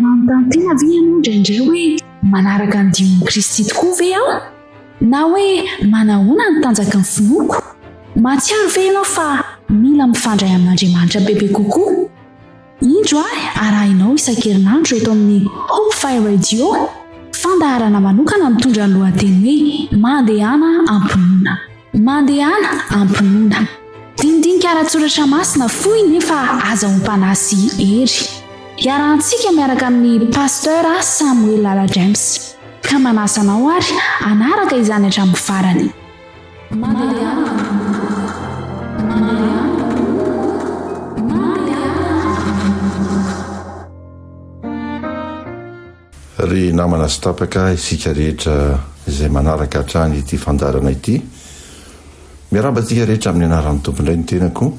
Manontaniana ve ianao indraindray hoe manaraka ny dion'i Kristy tokoa ve aho? Na hoe manahoana ny tanjaky ny finoako? Mahatsiaro ve ianao fa mila mifandray amin'Andriamanitra bebe kokoa? Indro ahy arahinao isan-kerinandro eto amin'ny Hopefy Radio fandaharana manokana mitondra ny lohateny hoe Mandehana am-pinoana. Mandehana am-pinoana. Dinidinika ara-tsoratra masina fohy nefa aza ompana sy hery. Iarahantsika miaraka amin'ny Pasteur Samuel Lala James. Ka manasa anao ary hanaraka izany hatramin'ny farany. Ry namana sy tapaka isika rehetra izay manaraka hatrany ity fandaharana ity, miarahaba antsika rehetra amin'ny anaran'ny Tompo indray ny tenako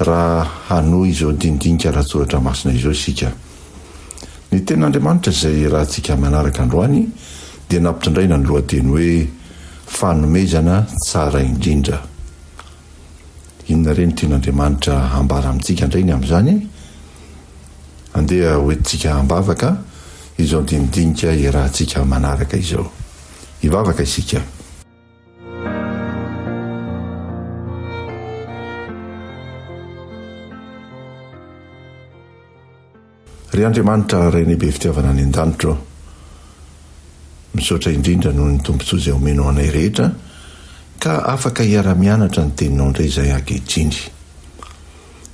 raha hanohy izao dinidinika ara-tsoratra masina izao isika. Ny tenin'Andriamanitra izay iarahantsika manaraka androany dia nampitondraina ny lohateny hoe, Fanomezana tsara indrindra. Inona re ny tian'Andriamanitra hambara amintsika indray ny amin'izany? Andeha hoentintsika ambavaka izao dinidinika iarahantsika manaraka izao. Hivavaka isika. Ry Andriamanitra Rainay be fitiavana any an-danitra ô, misaotra indrindra noho ny tombontsoa izay omenao anay rehetra ka afaka hiara-mianatra ny Teninao indray izahay ankehitriny.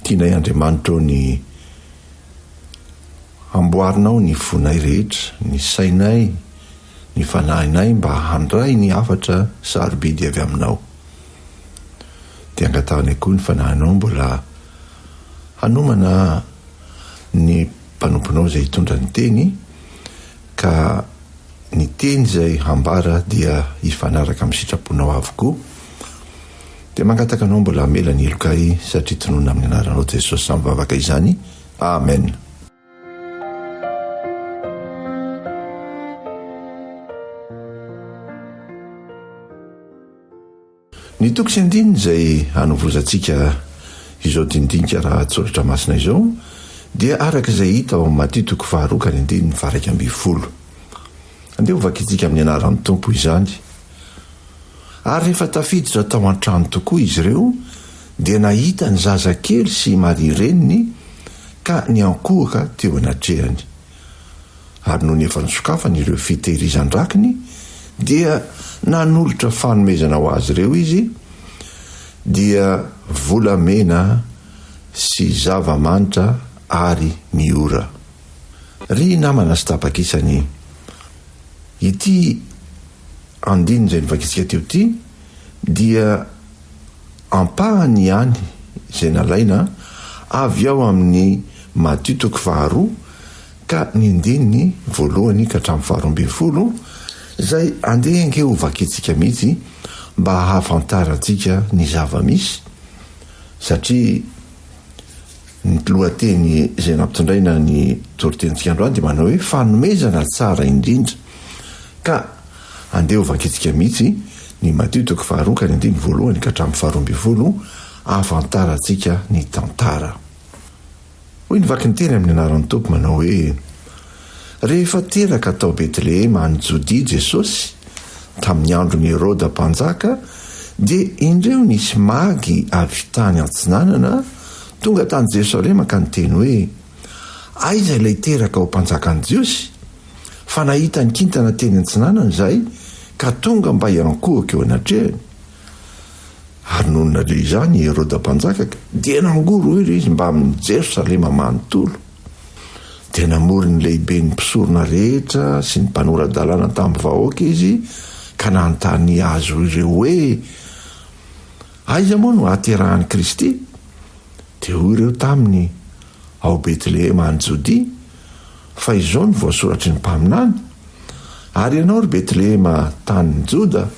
Tianay Andriamanitra ô ny hamboarinao ny fonay rehetra, ny sainay, ny fanahinay mba handray ny hafatra sarobidy avy Aminao. Dia angatahanay koa ny fanahinao mbola hanomana ny mpanomponao izay hitondra ny Teny, ka ny Teny izay hambara dia hifanaraka amin'ny sitraponao avokoa. Dia mangataka Anao mbola hamela ny helokay satria tononina amin'ny Anaranao Jesosy samy vavaka izany. Amen. Ny toko sy andininy izay hanovozantsika izao dinidinika lahatsoratra masina izao dia araka izay hita ao amin'ny Matio toko faharoa ka ny andininy faha iraika ambin'ny folo. Andeha hovakintsika amin'ny anaran'ny Tompo izany. Ary rehefa tafiditra tao an-trano tokoa izy ireo, dia nahita ny zazakely sy Maria reniny ka niankohoka teo anatrehany. Ary nony efa nisokafany ireo fitehirizan-drakiny, dia nanolotra fanomezana ho azy ireo izy, dia volamena sy zava-manitra ary ny ora. Ry namana sy tapakisan'ny ity andininy izay novakitsika teo ity dia ampahany ihany izay nalaina avy ao amin'ny Matio toko faharoa ka ny andininy voalohany ka hatramin'ny faharoa ambin'ny folo izay andeha ange ho vakintsika mihitsy mba hahafantarantsika ny zava-misy satria Ny lohateny izay nampitondraina ny toritenintsika androany dia manao hoe fanomezana tsara indrindra. Ka andeha ho vakintsika mihitsy ny Matio toko faharoa ka ny andininy voalohany ka hatramin'ny faharoa ambin'ny folo ahafantarantsika ny tantara. Hoy ny vaky ny teny amin'ny anaran'ny Tompo manao hoe. Rehefa teraka tao Betlehema any Jodia Jesosy, tamin'ny andron'i Heroda Mpanjaka, dia indreo nisy magy avy tany Atsinanana tonga tany Jerosalema ka niteny hoe, Aiza ilay teraka ho Mpanjakan'ny Jiosy? Fa nahita ny kintana teny Antsinanana izahay ka tonga mba hiankohoka eo anatrehany. Ary nony naleo izany i Heroda Mpanjaka dia nangorohoro izy mbamin'i Jerosalema manontolo. dia namory ny lehiben'ny mpisorona rehetra sy ny mpanora-dalàna tamin'ny vahoaka izy ka nanontany azy ireo hoe, Aiza moa no hahaterahan'i Kristy? Dia hoy ireo taminy, Ao Betlehema any Jodia, fa izao no voasoratry ny mpaminany, Ary ianao, ry Betlehema, tanin'i Joda,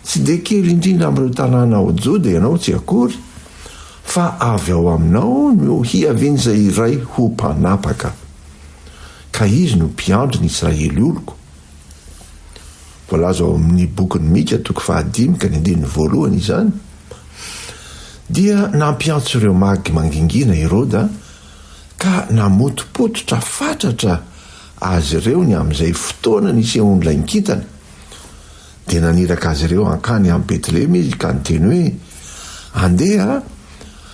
Tsy dia kely indrindra amin'ireo tanàna ao Joda ianao tsy akory, fa avy ao aminao no hiavian'izay iray ho mpanapaka, ka izy no mpiandry ny Israely oloko. Voalaza ao amin'ny bokin'i Mika toko fahadimy ka ny andininy voalohany izany. Dia nampiantso ireo magy mangingina i Heroda, ka namotopototra fatratra azy ireo ny amin'izay fotoana nisehoan'ilay nikintana. Dia naniraka azy ireo hankany amin'i Betlehema izy ka niteny hoe, Andeha,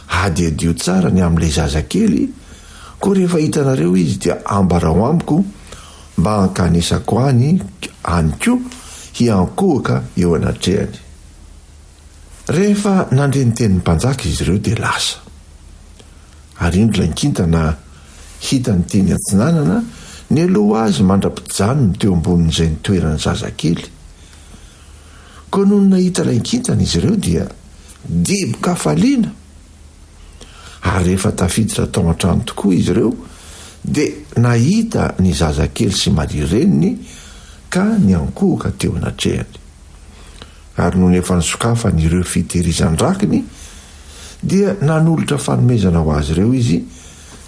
hadihadio tsara ny amin'ilay zazakely, koa rehefa hitanareo izy dia ambarao amiko mba hankanesako any, any koa hiankohoka eo anatrehany. Rehefa nandre ny tenin'ny mpanjaka izy ireo dia lasa. Ary indro ilay kintana hitany teny atsinanana nialoha azy mandra-pijanony teo ambonin'izay nitoeran'ny zazakely. Koa nony nahita ilay kintana izy ireo dia dibo-kafaliana. Ary rehefa tafiditra tao an-trano tokoa izy ireo dia nahita ny zazakely sy Maria reniny ka niankohoka teo anatrehany. ary nony efa nisokafany ireo fitehirizan-drakiny dia nanolotra fanomezana ho azy ireo izy,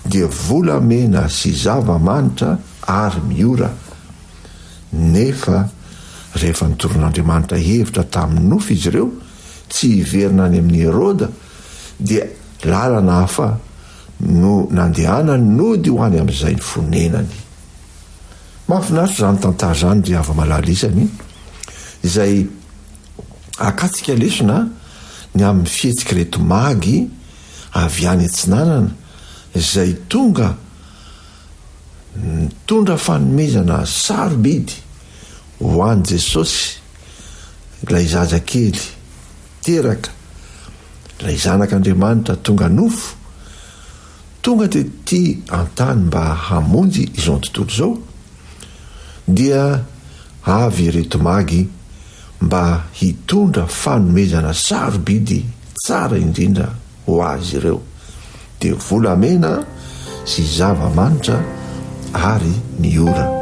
dia volamena sy zava-manitra ary miora. Nefa rehefa nitoron'Andriamanitra hevitra tamin'ny nofy izy ireo tsy hiverina any amin'i Heroda, dia lalana hafa no nandehanany nody ho any amin'izay ny fonenany. Mahafinaritra izany tantara izany ry hava-malala isany izay akatsika lesona ny amin'ny fihetsik'ireto magy avy any atsinanana izay tonga nitondra fanomezana sarobidy ho an'i Jesosy ilay zaza kely teraka, ilay zanak'Andriamanitra tonga nofo. tonga tety an-tany mba hamonjy izao tontolo izao, dia avy ireto magy mba hitondra fanomezana sarobidy tsara indrindra ho azy ireo, dia volamena sy zava-manitra ary ny ora.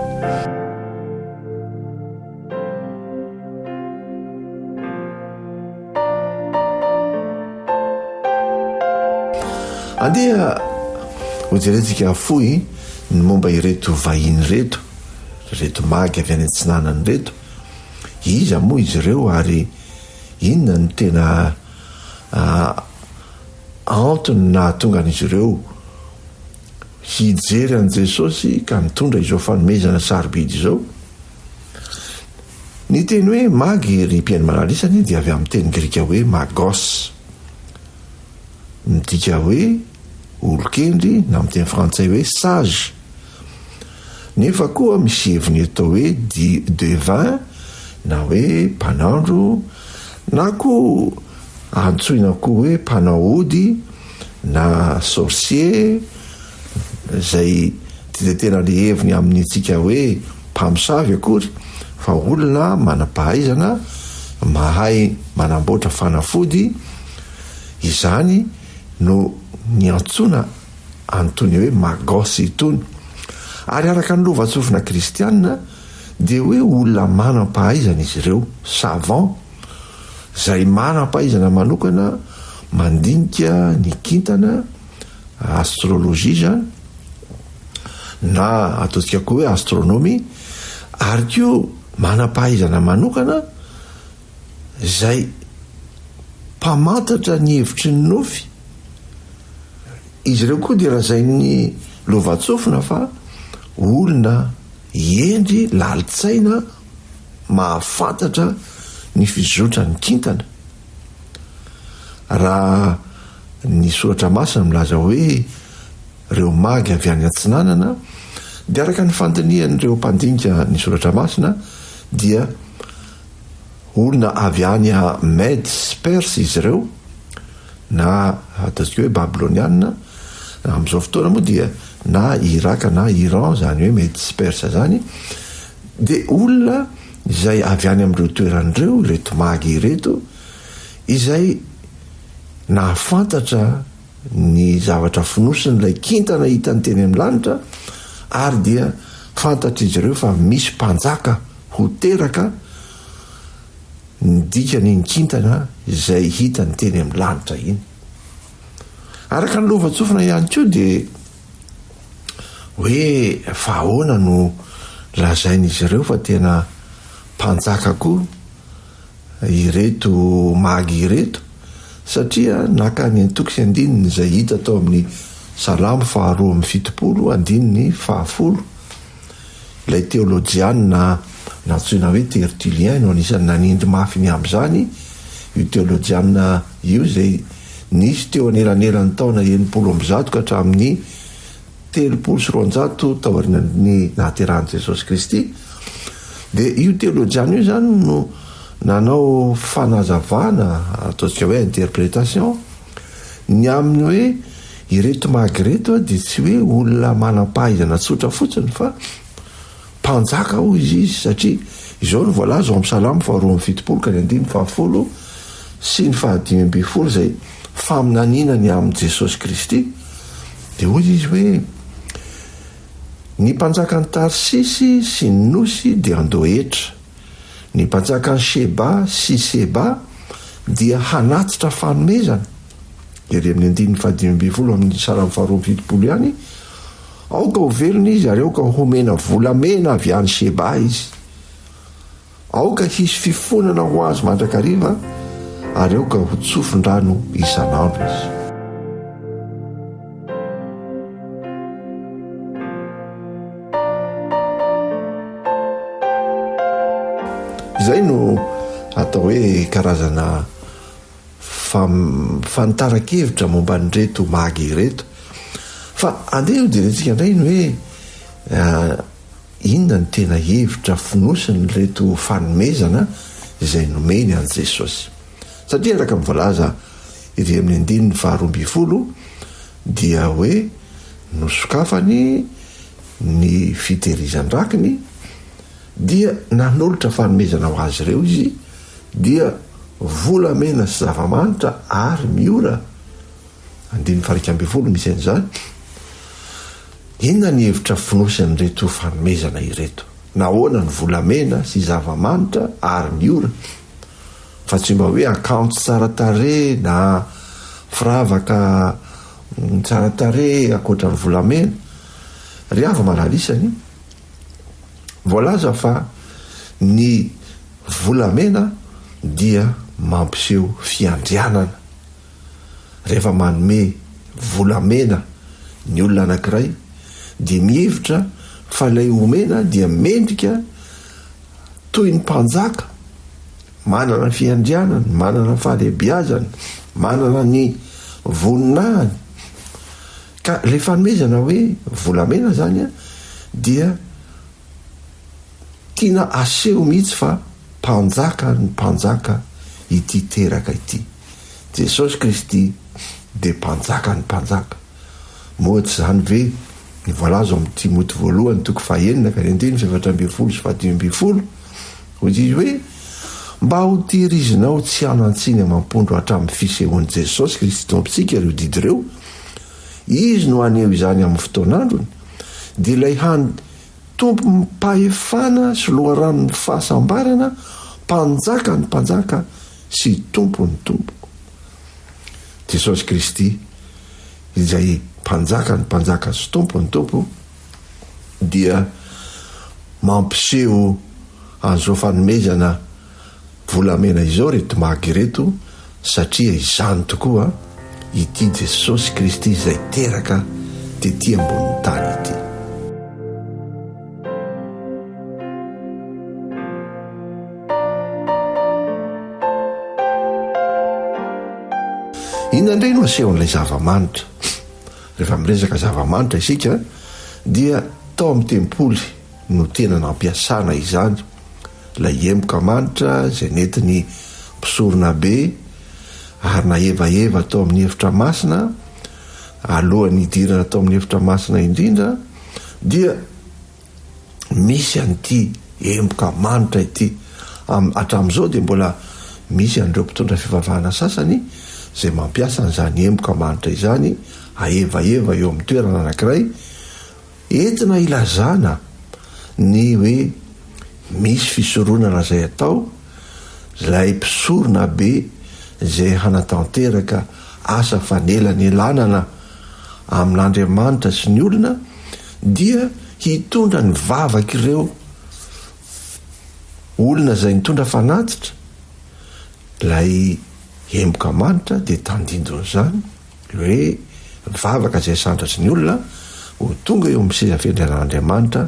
Andeha hojerentsika fohy ny momba ireto vahiny ireto, ireto magy avy any Atsinanana ireto. Iza moa izy ireo ary inona no tena antony nahatonga an'izy ireo hijery an'i Jesosy ka nitondra izao fanomezana sarobidy izao? Ny teny hoe Magy, ry mpihaino malalisa, anie dia avy amin'ny teny grika hoe magos, midika hoe olon-kendry na amin'ny teny frantsay hoe sage. Nefa koa misy heviny eto hoe devin na hoe mpanandro na koa antsoina koa hoe mpanao ody, na sorcier izay tsy dia tena le heviny amin'ny antsika hoe mpamosavy akory fa olona manam-pahaizana mahay manamboatra fanafody, izany no niantsoana an'itony hoe magos itony. Ary araka ny lovantsofina kristiana dia hoe olona manam-pahaizana izy ireo, savant. Izay manam-pahaizana manokana mandinika ny kintana, astrologie izany, na ataontsika koa hoe astronomie, ary koa manam-pahaizana manokana izay mpamantatra ny hevitry ny nofy, izy ireo koa dia lazain'ny lovantsofina fa olona hendry, lalin-tsaina, mahafantatra ny fizotran'ny kintana. Raha ny Soratra Masina milaza hoe reo magy avy any atsinanana, dia araka ny fandinihan'ireo mpandinika ny Soratra Masina dia olona avy any Mède sy Perse izy ireo, na ataontsika hoe Babylonianina, amin'izao fotoana moa dia na Iraka na Iran izany hoe Mède sy Perse izany, Dia olona izay avy any amin'ireo toerana ireo ireto magy ireto izay nahafantatra ny zavatra fonosin'ilay kintana hitany teny amin'ny lanitra ary dia fantatr'izy ireo fa misy mpanjaka ho teraka ny dikan'iny kintana izay hitany teny amin'ny lanitra iny. Araka ny lovantsofina ihany koa dia. Hoe fa ahoana no lazain'izy ireo fa tena mpanjaka koa ireto magy ireto satria naka ny antoko sy andininy izay hita tao amin'ny Salamo faharoa amby fitopolo, andininy fahafolo. Ilay teolojianina nantsoina hoe Tertullien no anisan'ny nanindry mafy ny amin'izany io teolojianina io izay nisy teo anelanelan'ny taona enimpolo amby zato ka hatramin'ny telopolo sy roanjato taorian'ny nahaterahan'i Jesosy Kristy dia io teolojianina io izany no nanao fanazavana, ataontsika hoe interprétation. Ny amin'ny hoe ireto magy ireto dia tsy hoe olona manam-pahaizana tsotra fotsiny fa mpanjaka hoy izy izy satria izao no voalaza ao amin'ny Salamo faha roa amby fitopolo ka ny andininy faha folo sy ny faha dimy ambin'ny folo izay faminaniana ny amin'i Jesosy Kristy dia hoy izy hoe ny mpanjakan'i Tarsisy sy ny nosy dia handoa hetra Ny mpanjakan'i Sheba sy Seba dia hanatitra fanomezana, ery amin'ny andininy fahadimy ambin'ny folo amin'ny Salamo faharoa amby fitopolo ihany, Aoka ho velona izy ary aoka homena volamena avy any Sheba izy. Aoka hisy fifonana ho azy mandrakariva ary aoka ho tsofin-drano isan'andro izy. Izay no atao hoe karazana fanitaran-kevitra momba an'ireto magy ireto. Fa andeha hojerentsika indray ny hoe inona no tena hevitra fonosin'ireto fanomezana izay nomeny an'i Jesosy. Satria araka ny voalaza ery amin'ny andininy faharoa ambin'ny folo dia hoe nosokafany ny fitehirizan-drakiny dia nanolotra fanomezana ho azy ireo izy dia volamena sy zava-manitra ary miora, andininy fahairika ambin'ny folo misy an'izany. Inona ny hevitra fonosy an'ireto fanomezana ireto? Nahoana ny volamena sy zava-manitra ary miora? fa tsy mba hoe akanjo tsara tarehy na firavaka tsara tarehy ankoatra ny volamena. Ry havy malalisany, voalaza fa ny volamena dia mampiseho fiandrianana. Rehefa manome volamena ny olona anankiray dia mihevitra fa ilay omena dia mendrika toy ny mpanjaka, manana ny fiandrianany, manana ny fahalehibiazany, manana ny voninahiny. Ka ilay fanomezana hoe volamena izany dia tiana aseho mihitsy fa mpanjaka ny mpanjaka ity teraka ity. Jesosy Kristy dia Mpanjakan'ny mpanjaka. Moa tsy izany ve ny voalaza ao amin'ny Timoty voalohany toko fahenina ka ny andininy fahefatra ambin'ny folo sy fahadimy ambin'ny folo? Hoy izy hoe, Mba hotehirizinao tsy hanan-tsiny amam-pondro hatramin'ny fisehoan'i Jesosy Kristy Tompontsika ireo didy ireo, Izy no haneho izany amin'ny fotoan'androny, dia ilay hany Tompom-pahefana sy Loharanon'ny fahasambarana, Mpanjakan'ny mpanjaka, sy ny Tompon'ny Tompo, Jesosy Kristy, izay Mpanjakan'ny mpanjaka sy Tompon'ny tompo, dia mampiseho an'izao fanomezana volamena izao ry Tmag ireto, satria izany tokoa ity Jesosy Kristy izay teraka tety ambonin'ny tany ity. Inona indray no asehon'ilay zava-manitra? Rehefa miresaka zava-manitra isika dia tao amin'ny tempoly no tena nampiasana izany, ilay emboka manitra izay nentin'ny mpisoronabe ary nahevaheva tao amin'ny efitra masina alohan'ny hidirana tao amin'ny efitra masina indrindra dia misy an'ity emboka manitra ity. Hatramin'izao dia mbola misy an'ireo mpitondra fivavahana sasany izay mampiasa an'izany emboka manitra izany hahevaheva eo amin'ny toerana anankiray entina hilazana ny hoe misy fisoronana izay atao ilay mpisorona be izay hanatanteraka asa fanelanelanana amin'Andriamanitra sy ny olona Dia hitondra ny vavak'ireo olona izay nitondra fanatitra, ilay emboka manitra dia tandindon'izany ny hoe ny vavaka izay sandratry ny olona ho tonga eo amin'ny seza fendren'Andriamanitra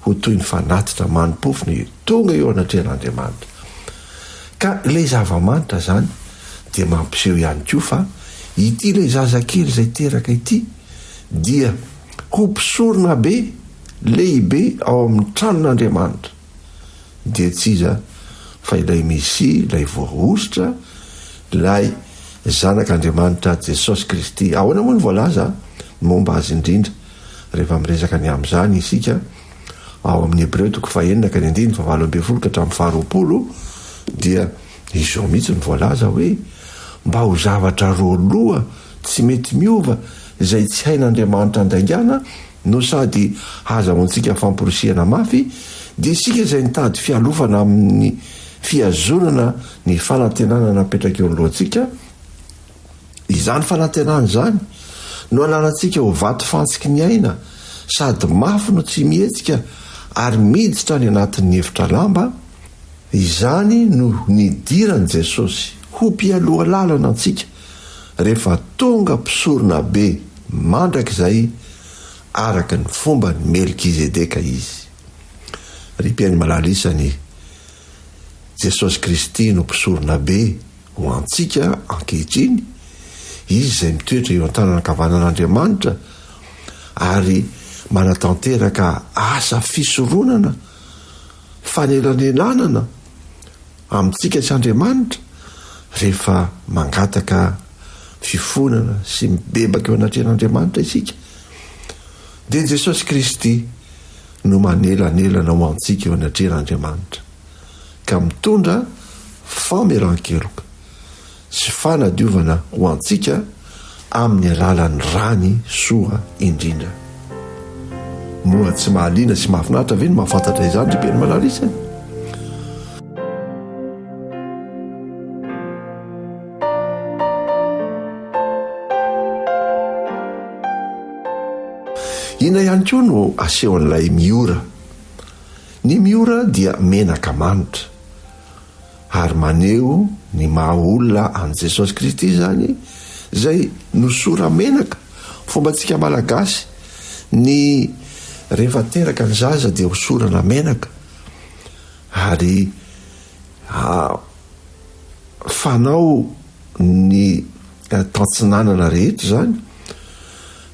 ho toy ny fanatitra mani-pofona tonga eo anatrehan'Andriamanitra. Ka ilay zava-manitra izany dia mampiseho ihany koa fa ity ilay zazakely izay teraka ity dia ho mpisoronabe lehibe ao amin'ny tranon'Andriamanitra, dia tsy iza fa ilay Mesia, ilay Voahosotra, ilay Zanak'Andriamanitra Jesosy Kristy. Ahoana moa no voalaza momba Azy indrindra, rehefa miresaka ny amin'izany isika ao amin'ny Hebreo toko fahenina ka ny andininy fahavalo ambin'ny folo ka hatramin'ny faharoapolo, dia izao mihitsy no voalaza hoe, Mba ho zavatra roaloha, Tsy mety miova izay tsy hain'Andriamanitra andaingana no sady hahazahoantsika famporisihana mafy, dia isika izay nitady fialofana amin'ny fihazonana ny fanantenana napetraka eo anoloantsika, izany fanantenana izany no anarantsika ho vato fantsiky ny aina sady mafy no tsy mihetsika ary miditra any anatin'ny efitra lamba, izany no nidiran'i Jesosy ho mpialoha lalana antsika rehefa tonga mpisorona be mandrakizay araka ny fomban'i Melkizedeka izy. Ry mpihaino malala isany, Jesosy Kristy no Mpisorona be ho antsika ankehitriny, Izy izay mitoetra eo an-tanana ankavanan'Andriamanitra ary manatanteraka asa fisoronana fanelanelanana, Amintsika tsy Andriamanitra rehefa mangataka fifonana sy mibebaka eo anatrehan'Andriamanitra isika dia Jesosy Kristy no manelanelana ho antsika eo anatrehan'Andriamanitra ka mitondra famelan-keloka sy fanadiovana ho antsika amin'ny alalan'ny rany soa indrindra. Moa tsy mahaliana sy mahafinaritra ve ny mahafantatra izany ry Père Malarisy a? Inona ihany koa no asehon'ilay Miora? Ny Miora dia menaka manitra. ary maneho ny maha olona an'i Jesosy Kristy izany izay nosora-menaka, fombantsika Malagasy ny rehefa teraka ny zaza dia hosorana menaka ary fanao ny tantsinanana rehetra izany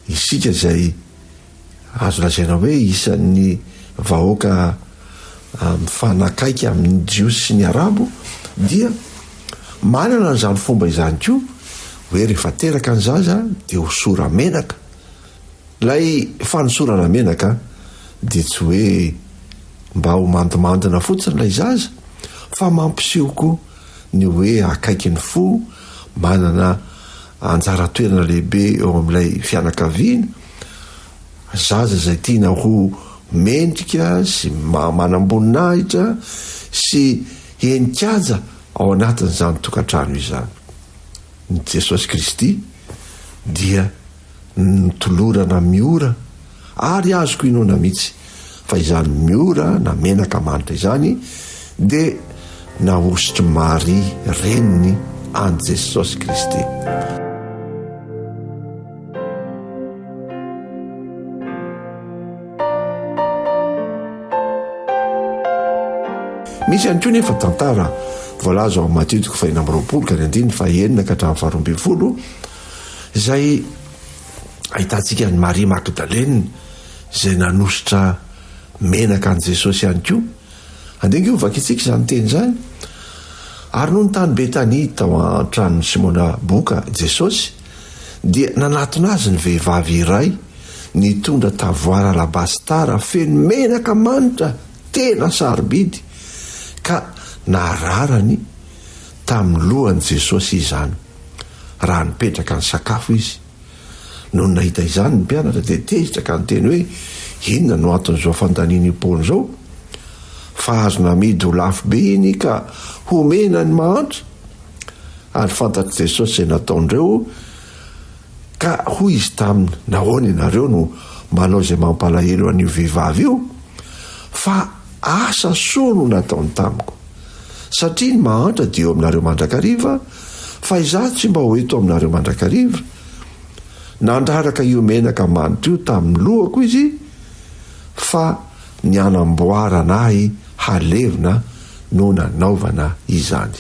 isika izay Azo lazaina hoe isan'ny vahoaka mifanakaiky amin'ny Jiosy sy ny Arabo dia manana an'izany fomba izany koa hoe rehefa teraka ny zaza dia hosora menaka. Ilay fanosorana menaka dia tsy hoe mba ho mandimandina fotsiny ilay zaza fa mampiseho koa ny hoe akaiky ny fo, manana anjara toerana lehibe eo amin'ilay fianakaviana. Zaza izay tiana ho mendrika sy maha-manamboninahitra sy henin-kianja ao anatin'izany tokantrano izany. Ny Jesosy Kristy dia notolorana miora ary azoko inoana mihitsy. Fa izany Miora na menaka manitra izany dia nahosotr'i Maria reniny an'i Jesosy Kristy. Misy ihany koa nefa tantara voalaza ao amin'ny Matio toko fahina amby roapolo ka ny andininy fahenina ka hatramin'ny faharoa ambin'ny folo izay ahitantsika an'i Maria Magdalena izay nanosotra menaka an'i Jesosy ihany koa. Andeha ange hovakintsika izany teny izany, Ary nony tany Betania tao an-tranon'i Simona boka Jesosy, dia nanatona azy ny vehivavy iray nitondra tavoara alabasitara feno menaka manitra tena sarobidy, ka nararany tamin'ny lohan'i Jesosy izany, raha nipetraka nisakafo izy. Nony nahita izany ny mpianatra dia tezitra ka niteny hoe, Inona no anton'izao fandaniana io Paoly izao? Fa azo namidy ho lafo be iny ka homena ny mahantra! Ary fantatr'i Jesosy izay nataon'ireo, ka hoy izy taminy, Nahoana ianareo no manao izay mampalahelo an'io vehivavy io? Fa asa soa no nataony tamiko. Satria ny mahantra dia eo aminareo mandrakariva, Fa izaho tsy mba ho eto aminareo mandrakariva. Nandraraka io menaka manitra io tamin'ny lohako izy fa ny hanamboarana ahy halevina no nanaovana izany.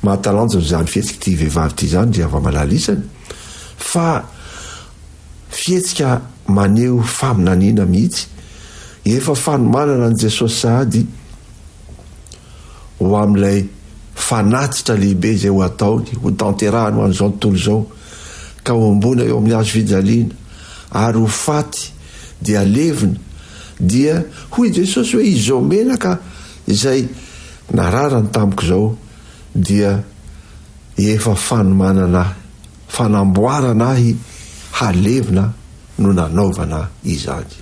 Mahatalanjona izany fihetsika ity vehivavy ity izany ry havamalala isany fa fihetsika maneho faminaniana mihitsy. Efa fanomanana an'i Jesosy sahady. ho amin'ilay fanatitra lehibe izay ho ataony, ho tanterahany ho an'izao tontolo izao, ka homboana eo amin'ny hazo fijaliana, ary ho faty, dia levona, dia hoy Jesosy hoe izao menaka izay nararany tamiko izao dia efa fanomanana ahy, fanamboarana ahy halevina no nanaovana izany.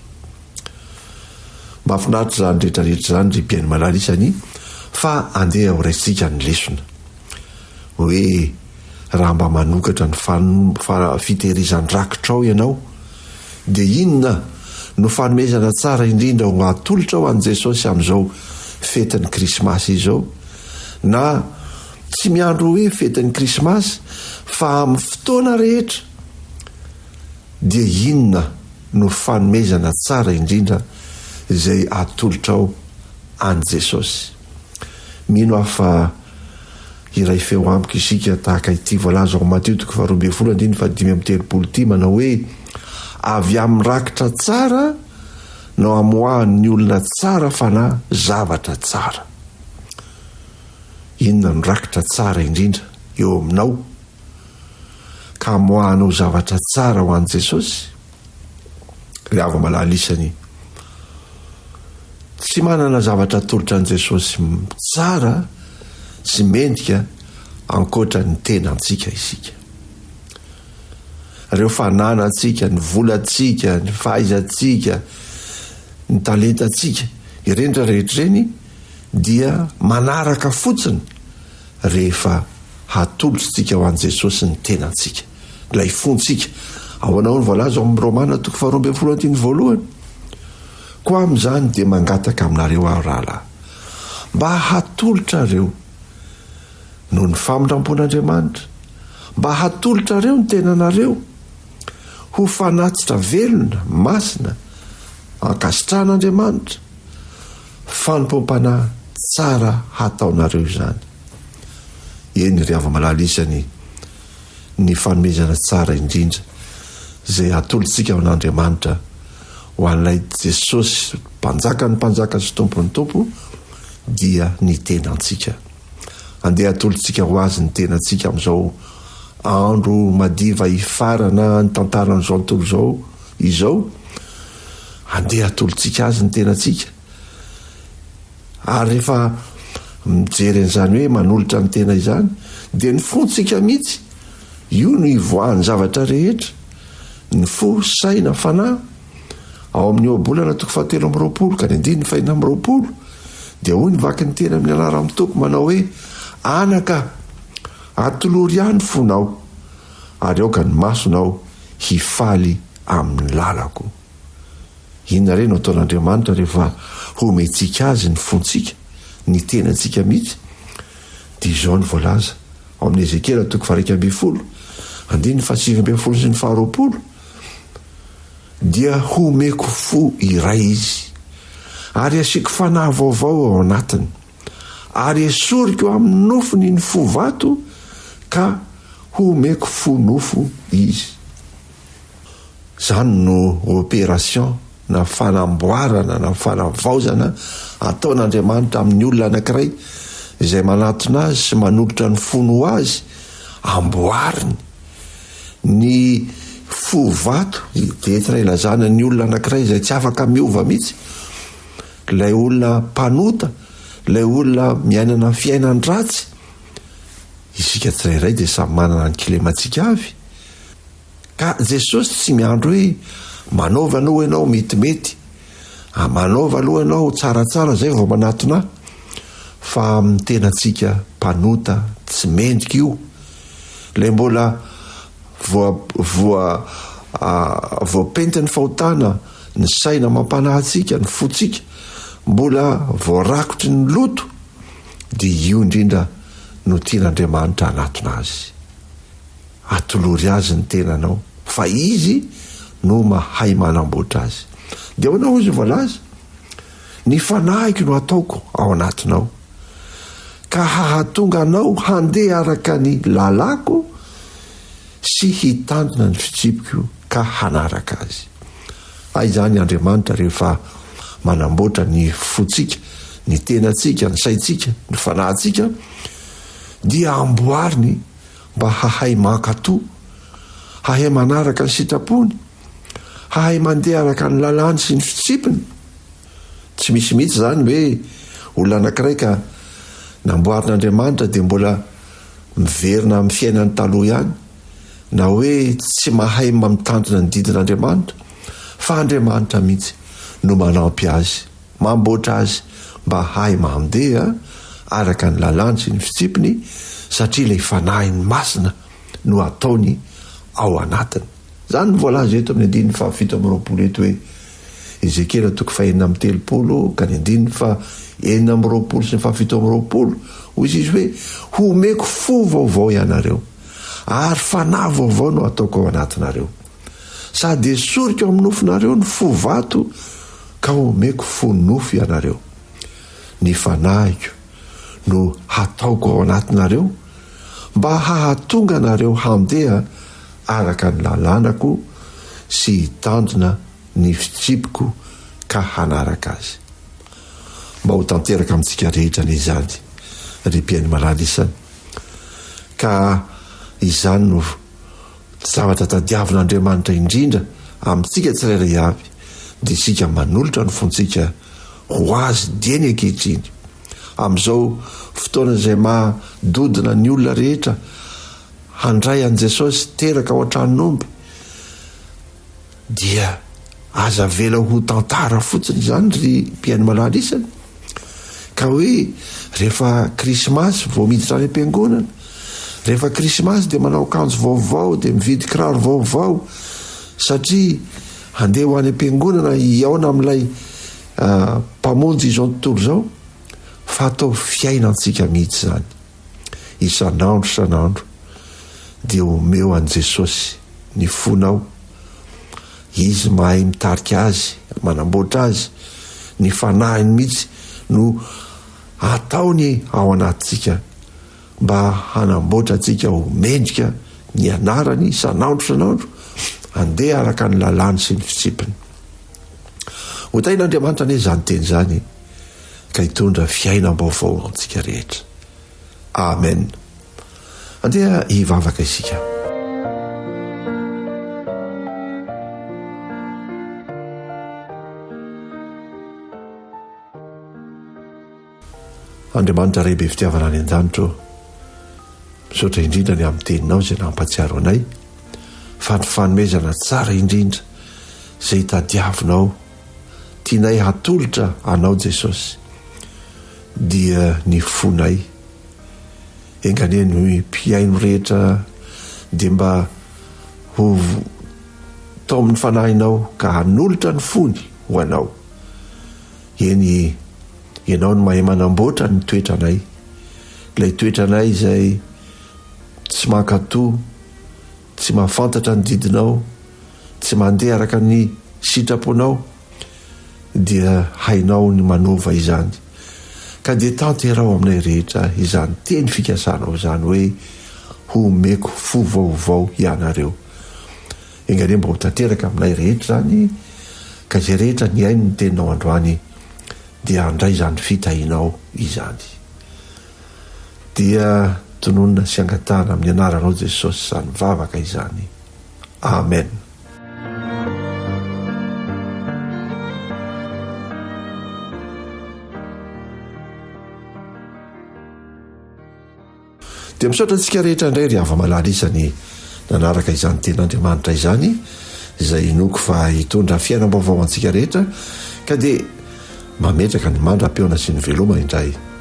Mahafinaritra izany rehetra rehetra izany ry Bien Malala isany fa andeha ho raisintsika ny lesona. Hoe raha mba manokatra ny fitehirizan-drakitrao ianao dia inona no fanomezana tsara indrindra ho atolotrao an'i Jesosy amin'izao fetin'ny krismasy izao na tsy miandry hoe fetin'ny krismasy fa amin'ny fotoana rehetra dia inona no fanomezana tsara indrindra izay atolotrao an'i Jesosy? Mino aho fa hiray feo amiko isika tahaka ity voalaza ao Matio toko faharoa ambin'ny folo andininy fahadimy amby telopolo ity manao hoe, Avy amin'ny rakitra tsara no amoahan'ny olona tsara fanahy zavatra tsara. Inona no rakitra tsara indrindra eo aminao? ka moa hanao zavatra tsara ho an'i Jesosy? Ry hava-malala isany, tsy manana zavatra atolotra an'i Jesosy tsara sy mendrika ankoatra ny tenantsika isika. Ireo fananantsika, ny volantsika, ny fahaizantsika, ny talentantsika, ireny rehetra ireny dia manaraka fotsiny rehefa hatolotr'tsika ho an'i Jesosy ny tenantsika, ilay fontsika. Ahoana hoy ny voalaza ao amin'ny Romana toko faharoa ambin'ny folo andininy voalohany? Koa amin'izany dia mangataka aminareo aho, rahalahy, mba hatolotrareo, noho ny famindrampon'Andriamanitra, mba hatolotrareo ny tenanareo ho fanatitra velona, masina, ankasitrahan'Andriamanitra, Fanompoam-panahy tsara hataonareo izany. Eny ry hava-malala isany ny fanomezana tsara indrindra izay atolotsika ho an'Andriamanitra, ho an'ilay Jesosy Mpanjakan'ny mpanjaka sy Tompon'ny tompo dia ny tenantsika. Andeha hatolotsika ho Azy ny tenantsika amin'izao andro madiva hifarana ny tantaran'izao tontolo izao izao. Andeha hatolotsika Azy ny tenantsika. Ary rehefa mijery an'izany hoe manolotra ny tena izany, dia ny fontsika mihitsy, io no ivoahan'ny zavatra rehetra, ny fo, saina, fanahy. Ao amin'ny Ohabolana toko fahatelo amby roapolo ka ny andininy fahenina amby roapolo, dia hoy ny Vakin'ny Teny amin'ny anaran'ny Tompo manao hoe, Anaka, atolory Ahy ny fonao, ary aoka ny masonao hifaly amin'ny lalako. Inona re no ataon'Andriamanitra rehefa homentsika Azy ny fontsika, ny tenantsika mihitsy? Dia izao no voalaza ao amin'ny Ezekiela toko faha-iraika ambin'ny folo, andininy fahasivy ambin'ny folo sy ny faharoapolo, Dia homeko fo iray izy, ary hasiako fanahy vaovao ao anatiny, ary hesoriko amin'ny nofony ny fo vato, ka homeko fo nofo izy. Izany no opération na fanamboarana na fanavaozana ataon'Andriamanitra amin'ny olona anankiray izay manatona azy sy manolotra ny fony ho azy, amboariny. Ny fo vato dia entina ilazana ny olona anankiray izay tsy afaka miova mihitsy, ilay olona mpanota, ilay olona miainana fiainan-dratsy. Isika tsirairay dia samy manana ny kilemantsika avy. Ka Jesosy tsy miandry hoe manaova aloha ianao metimety, manaova aloha ianao tsaratsara zay vao manatona ahy, fa amin'ny tenantsika mpanota tsy mendrika io, ilay mbola voapentin'ny fahotana ny saina amam-panahy antsika, ny fontsika mbola voarakotry ny loto, dia io indrindra no tian'Andriamanitra hanatona azy. Atolory azy ny tenanao fa izy no mahay manamboatra azy. Dia ahoana hoy izy voalaza? Ny fanahiko no hataoko ao anatinao, ka hahatonga anao handeha araka ny lalàko sy hitandrina ny fitsipiko ka hanaraka azy. Hay izany Andriamanitra rehefa manamboatra ny fontsika, ny tenantsika, ny saintsika, ny fanahintsika dia amboariny mba hahay mankatò, hahay manaraka ny sitrapony, hahay mandeha araka ny lalàny sy ny fitsipiny. Tsy misy mihitsy izany hoe olona anankiray ka namboarin'Andriamanitra dia mbola miverina amin'ny fiainany taloha ihany, na hoe tsy mahay mitandrina ny didin'Andriamanitra, fa Andriamanitra mihitsy no manampy azy. Mamboatra azy mba hahay mandeha araka ny lalàny sy ny fitsipiny satria ilay Fanahiny Masina no ataony ao anatiny. Izany no voalaza eto amin'ny andininy fahafito amby roapolo eto hoe, Ezekiela toko fahenina amby telopolo ka ny andininy faha enina amby roapolo sy ny fahafito amby roapolo, hoy izy hoe, Homeko fo vaovao ianareo, ary fanahy vaovao no hataoko ao anatinareo. Sady esoriko amin'ny nofonareo ny fo vato ka omeko fo nofo ianareo. Ny fanahiko no hataoko ao anatinareo mba hahatonga anareo handeha araka ny lalànako sy hitandrina ny fitripoko ka hanaraka azy. Mba ho tanteraka amintsika rehetra anie izany, ry mpihaino malala isany, ka izany no Ny zavatra tadiavin'Andriamanitra indrindra amintsika tsirairay avy dia isika manolotra ny fontsika ho Azy dieny ankehitriny. Amin'izao fotoana izay maha dodona ny olona rehetra handray an'i Jesosy teraka ao an-tranon'omby, Dia aza avela ho tantara fotsiny izany ry mpihaino malala isany ka hoe rehefa krismasy vao miditra any am-piangonana, rehefa krismasy dia manao akanjo vaovao, dia mividy kiraro vaovao satria handeha ho any am-piangonana hihaona amin'ilay Mpamonjy izao tontolo izao, fa atao fiainantsika mihitsy izany. isan'andro isan'andro dia omeo an'i Jesosy ny fonao. Izy mahay mitarika azy, manamboatra azy, ny fanahiny mihitsy no ataony ao anatintsika mba hanamboatra antsika ho mendrika ny anarany isan'andro isan'andro, andeha araka ny lalàny sy ny fitsipiny. Hotahin'Andriamanitra anie izany teny izany. ka hitondra fiainam-baovao ho antsika rehetra. Amen. Andeha hivavaka isika. Andriamanitra Ray be fitiavana any an-danitra ô, misaotra indrindra ny amin'ny teninao izay nampatsiaro anay fa ny fanomezana tsara indrindra izay tadiavinao Tianay hatolotra Anao Jesosy dia ny fonay. Enganie ny mpihaino rehetra dia mba ho taomin'ny Fanahinao ka hanolotra ny fony ho Anao. Eny, Ianao no mahay manamboatra ny toetranay, ilay toetranay izay tsy mankatò, Tsy mahafantatra ny didinao, tsy mandeha araka ny sitraponao, dia hainao ny manova izany. Ka dia tanteraho aminay rehetra izany teny fikasanao izany hoe, Homeko fo vaovao hianareo. Enga anie mba ho tanteraka aminay rehetra izany, ka izay rehetra nihaino ny teninao androany, dia handray izany fitahianao izany. dia tononina sy angatahana amin'ny anaranao Jesosy izany vavaka izany. Amen. Dia misaotra antsika rehetra indray ry hava malala isany nanaraka izany ten'Andriamanitra izany izay inoko fa hitondra fiainam-baovao antsika rehetra ka dia mametraka ny mandra-peona sy ny veloma indray.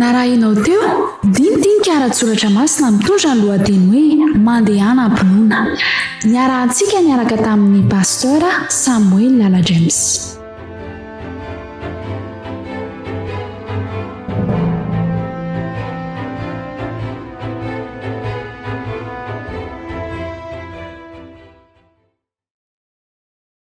Narahinao teo, dinidinika ara-tsoratra masina mitondra ny lohateny hoe Mandehana am-pinoana. Niarahantsika niaraka tamin'ny Pasteur Samuel Lala James.